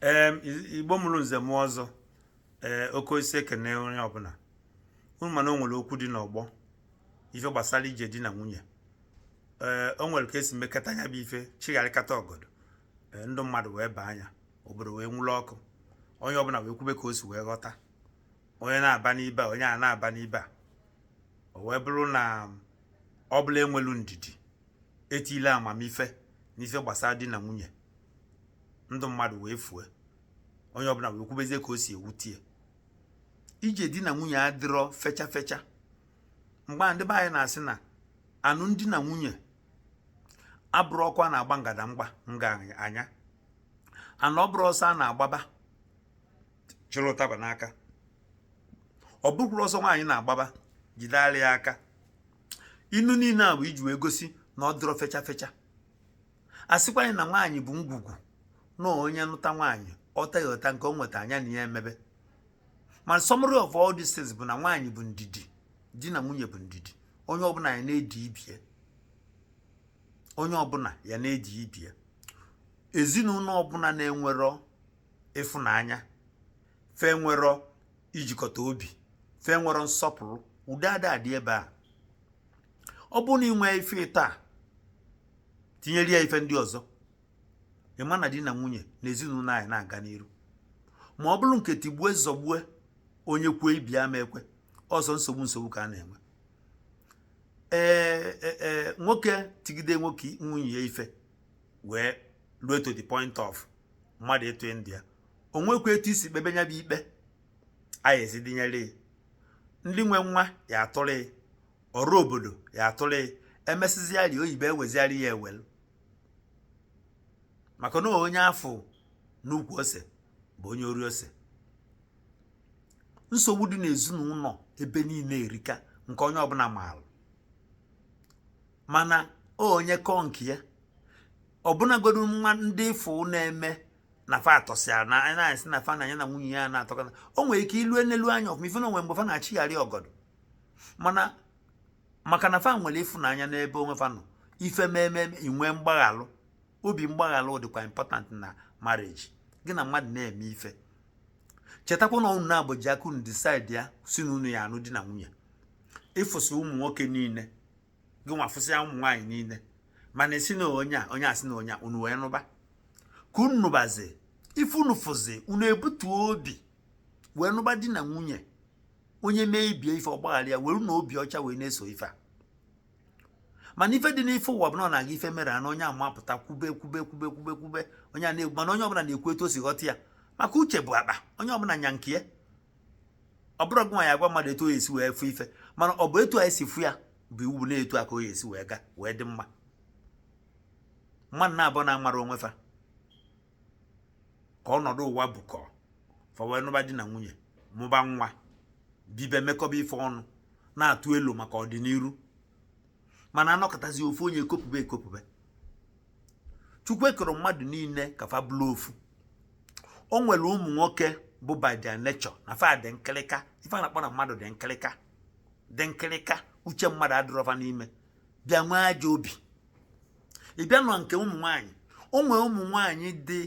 ee igbo mụrụ nze mụọ ọzọ ee oke osisi ekene onye ọbụla unu ma na o nwere okwu dị n'ọgbọ ife gbasara ije di na nwunye ee o nwere ka e si mekata nya bụ ife chịgharịkata ọgọdọ ee ndụ mmadụ wee baa na ya obodo wee nwụrụ ọkụ onye ọbụla wee kwube ka o si wee ghọta onye na-aba n'ibe a onye a na-aba n'ibe a o wee bụrụ na ọ bụ na enwelu ndidi etinye amamife n'ife gbasara di na nwunye ndụ mmadụ wee fue onye ọbụla wee kwubezie ka o si ewute ya ije di na nwunye adịrọ fecha fecha mgbe a ndị be anyị na-asị na anụm di na nwunye abụrọ ọkụ a na-agba ngada mgba nga anya anụ ọ bụrọ ọsọ a na-agbaba chịrị ụtaba n'aka ọ bụkwuru ọsọ nwaanyị na-agbaba jide ala ya aka inu niile a bụ iji wee gosi na ọ dịrọ fecha fecha a sịkwanị na nwaanyị bụ ngwugwu na onye nụta nwaanyị ọ tọgheta nke o nweta nya na ya emebe ma summary of all these things bụ na nwaanyị bụ ndidi di na nwunye bụ ndidi onye ọbụla ya na-edi ibie onye ọbụla ya na-edi ibie ezinụlọ ọbụla na-enwerọ ịfụnanya fa enwerọ ijikọta obi fa enwerọ nsọpụrụ udo ada adị ebe a ọ bụrụ na i nwee ife ịta tinyere ya ife ndị ọzọ ị ma na di na nwunye na ezinụlọ aya na-aga n'iru ma ọ bụrụ nke tigbue zọgbue onye kwuo ibe ya ama ekwe ọzọ nsogbu nsogbu ka a na-enwe ee e, e, nwoke tigide nwoke nwunye ya ife wee ruo to the point of mmadụ itufu ndụ ya o nwekwa etu e si kpebe nya bụ ikpe anyị ezidinyere ya ndị nwe nwa ya atụrụ ya ọrụ obodo ya atụrụ ya emesịzịarị oyibo eweziarị ya ewelu maka na onye a fụ n'ukwu ose bụ onye ori ose nsogbu dị n'ezinụlọ ebe niile erika nke onye ọbụla maalụ mana onye kọọ nke ya ọbụnagodu nwa ndị ị fụ na-eme na fa atọsịara na anyị na-asị na fa na ya na nwunye ya na-atọkọta o nwere ike i lue nelu anya ọfụma ị fụ na o nwe mgbe fa na-achịgharị ọgọdọ mana maka na fa nwere ịfụnanya n'ebe onwe fa nọ ife meme inwe mgbaghalụ obi mgbaghalụ dịkwa important na marriage gị na mmadụ na-eme ife chetakwa na unu naabọ ji aka unu decide ya sị na unu ya-anụ di na nwunye ị fụsịa ụmụ nwoke niile gị nwa afụsịa ụmụ nwaanyị niile mana ị sị na onye a onye a sị na onye a unu wee nụba ka unu nụbazi ife unu fụzi unu ebutuo obi wee nụba di na nwunye onye mee ibe ya ife ọ gbaghara ya were na obi ọcha wee na-eso ife a mana ife dị n'ife ụwa bụ na ọ na-aga ife mere na onye amapụta kwube kwube kwube kwube kwube onye a na-egbu mana onye ọbụla na-ekwu etu o si ghọta ya maka uche bụ akpa onye ọbụla nya nke ya ọ bụrọ gị nwa ya-agwa mmadụ etu o esi wee fụ ife mana ọ bụ etu a esi fụ ya bụ iwu na etu a ka o esi wee gaa wee dị mma mmadụ naabọ na-amara onwe fa ka ọnọdụ ụwa bukọ fa wee nụba di na nwunye mụba nwa bibe mekọba ife ọnụ na-atụ elo maka ọdịniru mana a nọkatazị ofu onye ekopube ekopube Chukwu ekerọ mmadụ niile ka fa bụrụ ofu o nwere ụmụ nwoke bụ by their nature na fa dị nkịlịka ife a na-akpọ na mmadụ dị nkịlịka dị nkịrịka uche mmadụ adịrọ fa n'ime bịa nwee ajọ obi ị bịa na nke ụmụ nwaanyị o nwere ụmụ nwaanyị ndị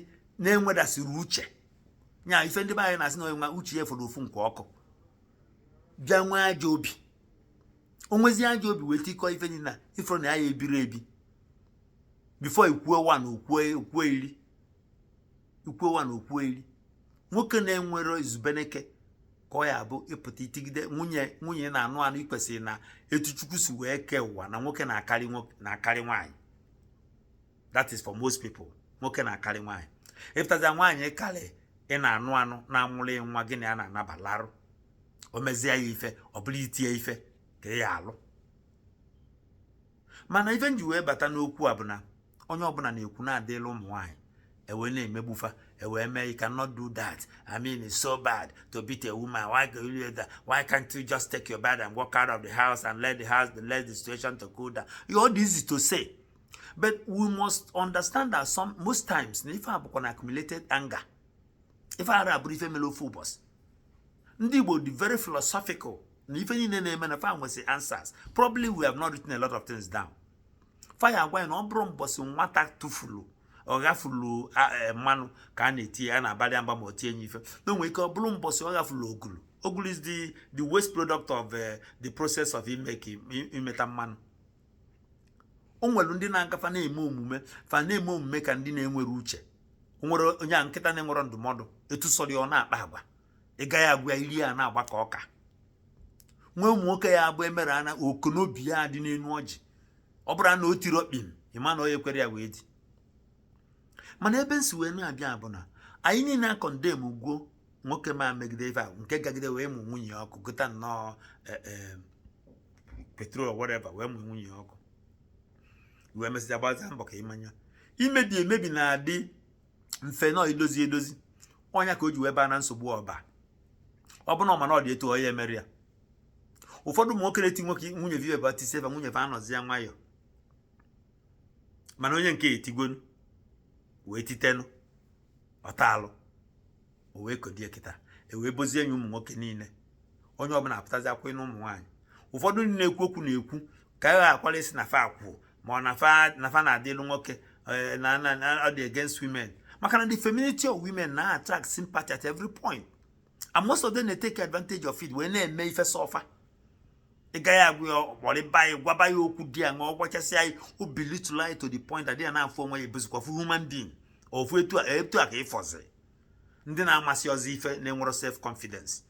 na-enwedasịrọ uche nya ife ndị be anyị na-asị na onye nwa uche ya fọrọ ofu nkwa ọkụ bịa nwee ajọ obi o nwezie ajọ obi wee tikọọ ife niile na ị fụrụ na ya ebiri ebi before i kwuo one o kwuo iri i kwuo one o kwuo iri nwoke na-enwero izubeneke ka ọ ya bụ ị pụta i tigide nwunye nwunye na-anụ anụ i kwesịrị na etu Chukwu si wee kee ụwa na nwoke na-akarị nwoke na-akarị nwaanyị that is for most people nwoke na-akarị nwaanyị ị pụtazịa nwaanyị karị ị na-anụ anụ na-amụrụ ị nwa gị na ya na-anaba larụ o mezie ya ife ọ bụrụ iti ya ife ka ị ya-alụ mana ife m ji wee bata n'okwu a bụ na onye ọbụla na-ekwu na-adịla ụmụ nwaanyị e wee na-emegbu fa e wee mee you cannot do that i mean it's so bad to beat a woman why do you do that why can't you just take your bag and walk out of the house and let the house let the situation to cool down it's easy to say but we must understand that some most times na ife a bụkwa an accumulated anger ife a abụrọ ife mere ofu ụbọsị ndị Igbo dị very philosophical na ife niile na-eme na fa nwesị answers probably we have not written a lot of things down fa ya-agwa ị na ọ bụrọ mbọsị nwata tụfuru ọ ghafulu e, mmanụ ka a na-eti ya na-abalị mba ma o tie nye ife na o nwe ike ọ bụrụ mbọsị ọ ghafulu ogulu ogulu is the the waste product of e, the process of imeta mmanụ o nwere ndị na-agafa na-eme omume fa na-eme omume ka ndị na-enwerọ uche o nwere onye a nkịta na-enwerọ ndụmọdụ etu sọrọ ya ọ na-akpa agwa ị gaghị agwa ya ire ya na-agba ka ọka nwee ụmụ nwoke ya bụ e mere ana ọkụ n'obi ya dị n'enu ọjị ọ bụrụ na o tiri okpin ị ma na onye kwere ya wee dị mana ebe m si wee na-abịa bụ na anyị niile a-condemn gwo nwoke ma megide ife a nke gagide wee mụ nwunye ọkụ gota nnọọ e, e, petrol whatever wee mụ nwunye ọkụ wee mesịa gbazịa mbọ ka ị ma na imebi emebi na-adị mfe nọ idozi edozi ọ nya ka o ji wee baa na nsogbu ọ ba ọ bụrụ na ọ ma na ọ dị etu onye mere ya ụfọdụ ụmụ nwoke na-eti nwunye fa ife fa tisie fa nwunye fa anọzịa nwayọọ mana onye nke etigonu wee titenụ ọta alụ o wee kodie kịta e wee bozie anyị ụmụ nwoke niile onye ọbụla apụtazịa kwuo na ụmụ nwaanyị ụfọdụ ndị na-ekwu okwu na-ekwu ka a ghakwara ịsị na fa akwụ ma ọ na fa na-adịlụ nwoke eh, na ọ dị against women maka na the femininity of women na-attract sympathy at every point and most of them na-take advantage of it wee na-eme ife sọ fa ị gaghị agwa ya ọ kparịba ya gwaba ya okwu dị ya ṅụọ gwachasịa ya o belittle ya to the point that ya na-afụ onwe ya abụzikwafụ human being ofu etu a etu a ka ị fụzi ndị na-amasịrọzi ife na-enwero self confidence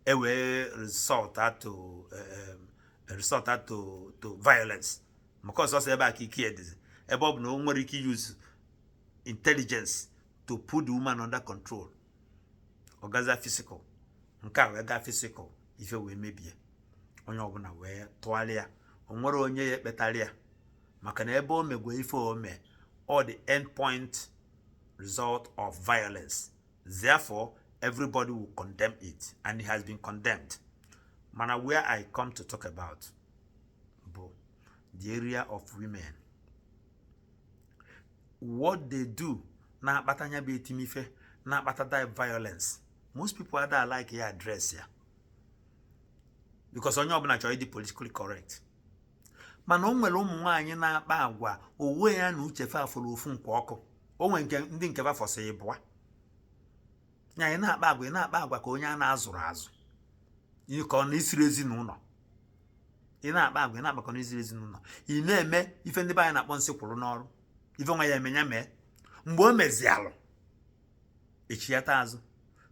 e wee resort to um, resort to to violence maka ọ sọsọ ebe a ka ike ya dịzi ebe ọ bụ na o nwere ike use intelligence to put the woman under control ọ gazịa physical nke a wee gaa physical ife wee mebie onye ọbụla wee tụgharịa o nwerọ onye ya-ekpetara ya maka na ebe o megwe ife o mee all the end point result of violence therefore everybody will condemn it and it has been condemned mana where i come to talk about bụ the area of women what they do na-akpata nya bụ etim ife na-akpata that violence most people ada like ya address ya because onye ọbụla chọrọ ịdị politically correct mana o nwere ụmụ nwaanyị na-akpa agwa o wee yie na uche fa fọrọ ofu mkpa ọkụ o nwere nke ndị nke fa fọsị ịbụa na ị na-akpa agwa ị na-akpa agwa ka onye a na-azụrọ azụ ka ọ na i sirọ ezinụlọ ị na-akpa agwa ị na-akpa ka ọ na i sirọ ezinụlọ ị na-eme ife ndị be anyị na-akpọ nsị kwụrụ n'ọrụ ife nwa ya-eme nya mee mgbe o mezi alụ e chighata azụ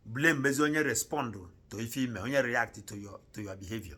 blamezie onye respond to ife i me onye react to your to your behavior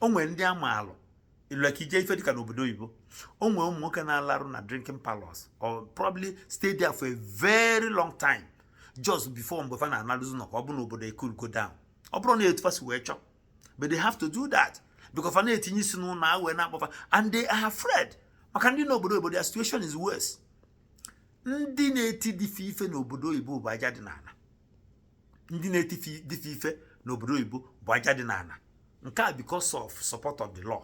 o nwere ndị ama alụ ilue ka ije ife dịka n'obodo oyibo o nwere ụmụ nwoke na-anọrụ na drinking parlours or probably stay there for a very long time just before mgbe fa na-analuzi ụnọ ka ọ bụ na obodo ecoolgo down ọ bụrọ na etu fa si wee chọọ but they have to do that because fa na-etinye isi n'ụlọ a wee na-akpọ fa and they are afraid maka ndị n'obodo obodo their situation is worse ndị na-eti di fa ife n'obodo oyibo bụ aja dị n'ala ndị na-eti di fa ife n'obodo oyibo bụ aja dị n'ana nke a because of support of the law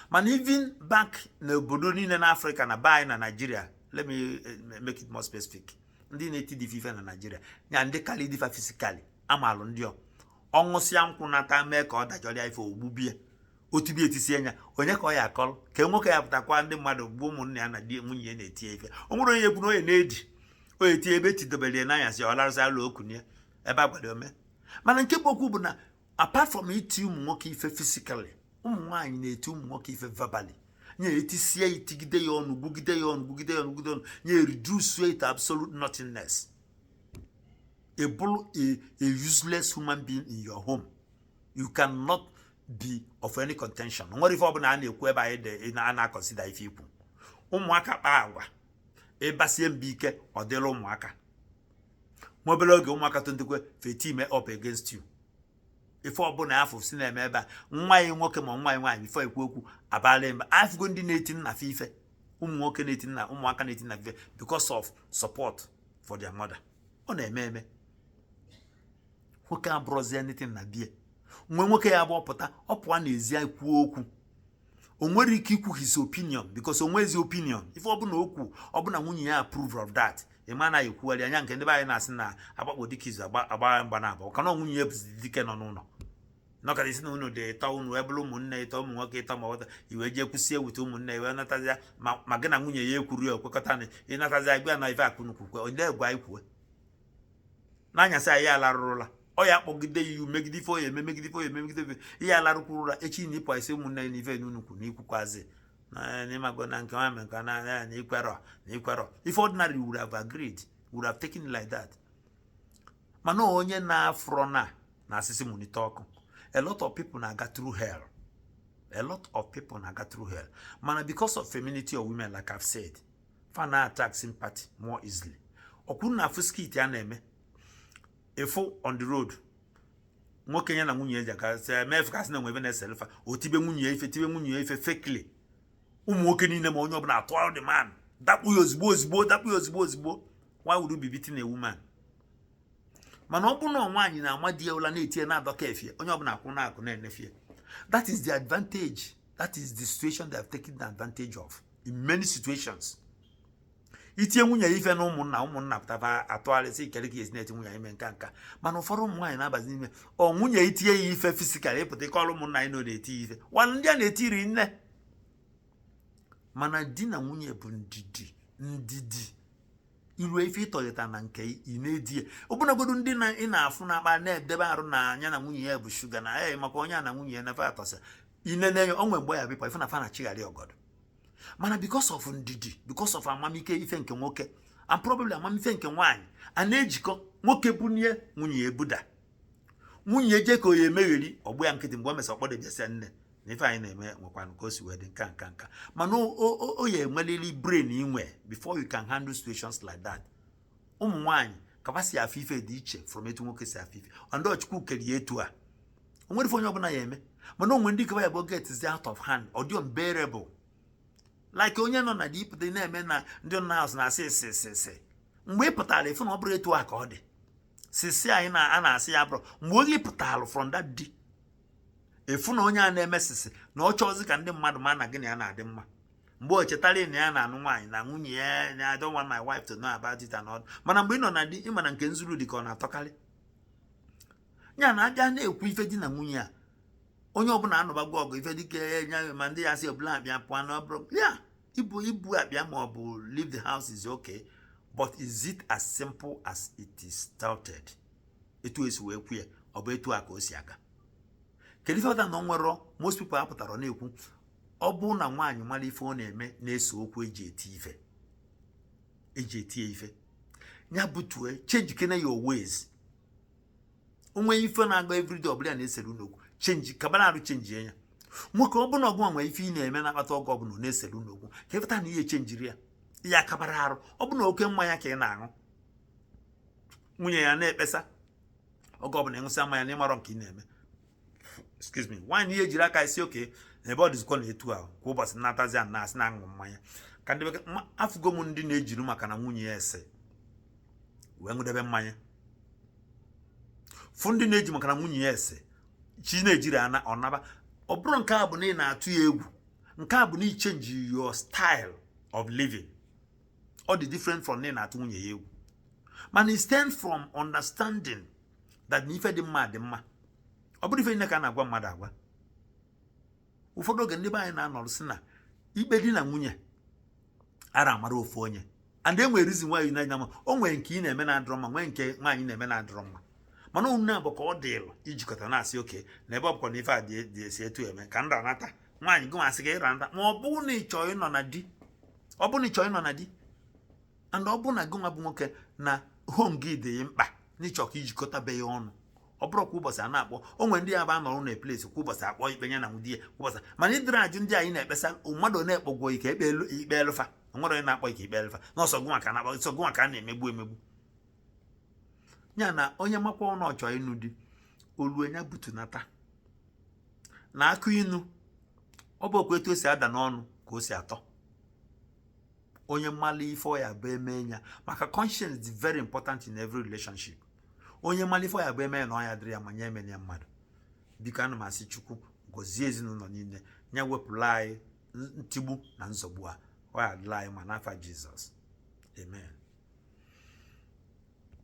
mana even back n'obodo niile na afrịka na be anyị na naijiria let me eh, make it more specific ndị na-eti di fa ife na naijiria ya ndị kalị di fa physically amalụ ndị ọ ṅụsịa nkwụ nata mee ka ọ dajọrịa ife o gbube ya o tibe ya etisie ya anya onye ka ọ ya-akọrọ ka nwoke ya pụta gwa ndị mmadụ bụ ụmụnne ya na di nwunye ya na-eti ya ife o nwere onye ekwu na onye na-edi onye tie ebe etidobere ya n'anya si ọ larụsị alụ okwu ya ebe agwado ome mana nke bụ okwu bụ na apart from iti ụmụ nwoke ife physically ụmụ nwaanyị na-eti ụmụ nwoke ife verbally nye etisie itigide ya ọnụ gwugide ya ọnụ gwugide ya ọnụ gwugide ọnụ nye reduce ya to absolute nothingness a, a useless human being in your home. You cannot be of any contention nwere ife ọbụna a na-ekwu ebe anyị a na-consider ife i kwu ụmụaka kpaa agwa ị basie mba ike ọ dịla ụmụaka nwa obere oge ụmụaka tonitekwe fa e-team up against you ife ọbụna afọ si na-eme ebe a nwa ya nwoke ma nwa ya nwaanyị before e kwu okwu abala mba afụgo ndị na-eti nna fa ife ụmụ nwoke na-eti nna ụmụaka na-eti nna fa ife because of support for their mother ọ na-eme eme nwoke abụrọzi anything na be ya nwa nwoke ya bụ ọ pụta ọ pụa n'ezi kwuo okwu o nwere ike ikwu his opinion because o nwezi opinion ife ọbụna okwu ọbụna nwunye ya approve of that ị ma na ekwugharị anya nke ndị be anyị na-asị na agbakpo dike izu agba mgba na abụọ kana nwunye ya bụzi dike nọ n'ụlọ nọkara isi na unu dị ịtọ unu wee bụrụ ụmụnne ịtọ ụmụ nwoke ịtọ ma ọta i wee jee kwusie ewute ụmụnne i wee natazia ma gị na nwunye ya ekwuru ya okwekọta na ị natazia gwa na ife akụnukwu kwe onye gwa i kwue n'anyasị anyị alarụrụla ọ ya kpọgide ya iwu megide ife ọ ya-eme megide ife ọ ya-eme megide ife ihe alarụkwuru ụra echi na ị pụ ị sị ụmụnne ya n'ife n'unu kwuru n'ikwukwazi n'ịmago na nke nwa nke na ya na i kwerọ na i kwerọ ife ordinarily would have agreed would have taken it like that mana onye na-afụrọ na na asị sị munite ọkụ a lot of people na-aga through hell a lot of people na-aga through hell mana because of femininity of women like I've said fa na attract sympathy more easily ọkwuru na-afụ skit a na-eme ị fụ on the road nwoke ya na nwunye ya ji aka sị eme ife ka sị na nwebe na-esere fa o tibe nwunye ya ife tibe nwunye ya ife fakely ụmụ nwoke niile ma onye ọbụna attack the man dakpo ya ozigbo ozigbo dakpo ya ozigbo ozigbo why would you be beating a woman mana ọ bụrụ na nwaanyị na-ama di ya ụla na-eti ya na-adọka efe ya onye ọbụna akwụ n'akụkụ na-ene fa that is the advantage that is the situation they have taken advantage of in many situations itie nwunye ya ife na ụmụnna ụmụnna pụtaba atụgharịsị ikere ka esi na-eti nwunye ya ime nka nka mana ụfọdụ ụmụ nwaanyị na-abazi n'ime ọ nwunye itie ya ife physical ị pụta ị kọrọ ụmụnna anyị na ọ na-eti ife nwanne ndị a na-eti eri nne mana di na nwunye bụ ndidi ndidi iru ife ịtọghịta na nke ị na-edi ya ọbụnagodu ndị na ị na-afụ na-akpa na-edebe arụ na anya na nwunye ya bụ shuga na ya maka onye a na nwunye ya na fa atọsa inene ya o nwe mgbe ya bụkwa ife na fa na chịgharị ọgọdọ mana because of ndidi because of amamife nke nwoke and probably amamife nke nwaanyị a na-ejikọ nwoke bunye nwunye ebuda nwunye eje ka oyi emegheri ọ gba ya nkịtị mgbe o mesịrị ọ kpọ di ya bịa sị ya nne na ife anyị na-eme nwekwanụ ka o si wee dị nka nka nka mana ọ ya enwelili brain inwe before you can handle situations like that ụmụ nwaanyị ka fa si afụ ife dị iche from etu nwoke si afụ ife and ọ Chukwu kere ya etu a o nwere ife onye ọbụla ya eme mana o nwe ndị kaba ya bụ gets out of hand ọ dị unbearable like onye nọ na deep dị na-eme na ndị nọ n'azụ na-asị sisi sisi mgbe ị pụtara ị fụ na ọ bụrụ etu a ka ọ dị sisi anyị na a na-asị ya bụrụ mgbe onye pụtara from that di ị fụ na onye a na-eme sisi na ọ chọọzi ka ndị mmadụ ma na gị na ya na-adị mma mgbe o chetara na ya na-anụ nwaanyị na nwunye ya na I don't want my wife to know about it and all mana mgbe ị nọ na di ị ma na nke e zuru dị ka ọ na-atọkarị ya na abịa na-ekwu ife di na nwunye a onye ọbụla anụbago ọgụ ife dịka nya ma ndị ya si ọbụla abịa pụọ na ọbụrụ ya ibu ibu abịa ma ọ bụ leave the house is okay but is it as simple as it is stated etu esi wee kwu ya ọ bụ etu a ka o si aga kedu ife ọta na nwere most people apụtara na-ekwu ọ bụ na nwaanyị mara ife ọ na-eme na-ese okwu eji eti ife eji eti ife ya butue change kene your ways o nwe ife na-aga everyday ọbụla na-esere unu okwu change kabara arụ change ya nwoke ọ bụ na ọ gị nwa nwe ife ị na-eme na-akpata ọgụ ọbụla na-esere unu okwu ka ị fụta na ị ya echenjiri ya ị ya kabara arụ ọ bụ na oke mmanya ka ị na-aṅụ nwunye ya na-ekpesa oge ọbụla ị ṅụsịa mmanya na ị marọ nke ị na-eme excuse me nwaanyị ị ya ejiri aka ị sị okay ebe ọ dịzikwa na etu ahụ kwa ụbọchị natazi a na-asị na aṅụ mmanya ka ndị bekee afụgo m ndị na-ejiri maka na nwunye ya ese wee ṅụdebe mmanya fụ ndị na-eji maka na nwunye ya ese chi na-ejiri ana ọ naba ọ bụrụ nke a bụ na ị na-atụ ya egwu nke a bụ na ị chenji your style of living ọ dị different from na ị na-atụ nwunye ya egwu mana it stems from understanding that na ife dị mma dị mma ọ bụrọ ife niile ka a na-agwa mmadụ agwa ụfọdụ oge ndị be anyị na-anọrụ sị na ikpe di na nwunye ara amara ofu onye and e nwere reason why na-anya ma o nwere nke ị na-eme na-adịrọ mma nwee nke nwaanyị na-eme na-adịrọ mma mana unu naabọ ka ọ dịlụ ijikọta na-asị okay na ebe ọ bụkwa na ife a dị esi etu eme ka nra nata nwaanyị gị nwa sị ka ịra nata ma ọ bụrụ na ị chọọ ịnọ na di ọ bụrụ na ị chọọ ịnọ na di and ọ bụrụ na gị nwa bụ nwoke na home gị dị mkpa na ị chọ ka ị jikọta be ya ọnụ ọ bụrụ kwa ụbọchị a na-akpọ o nwere ndị ya bụ anọrọ na a place kwa ụbọchị akpọ ikpe ya na nwunye ya kwa ụbọchị mana ị dịrọ ajụ ndị anyị na-ekpesa mmadụ na-ekpogwo ike ekpe ikpe elụfa nwere onye na-akpọ ike ikpe elụfa na ọ sọ gụnwa ka a na-akpọ ọ sọ gụnwa ka a na-emegbu emegbu ya na onye makwa na ọ chọ ịnụ di olu nya ebutunata na akụ inu ọ bụ okwu etu o si ada n'ọnụ ka o si atọ onye malụ ife ọ ya-abụ e mee ya maka conscience dị very important in every relationship onye malụ ife ọ ya-abụ e mee ya na ọ ya-adịrị ya mma nye emene ya mmadụ biko ana m asị chukwu gọzie ezinụlọ niile nye wepụlụ anyị ntigbu na nzọgbu a ọ ya-adịlị anyị mma n'afa jizọs amen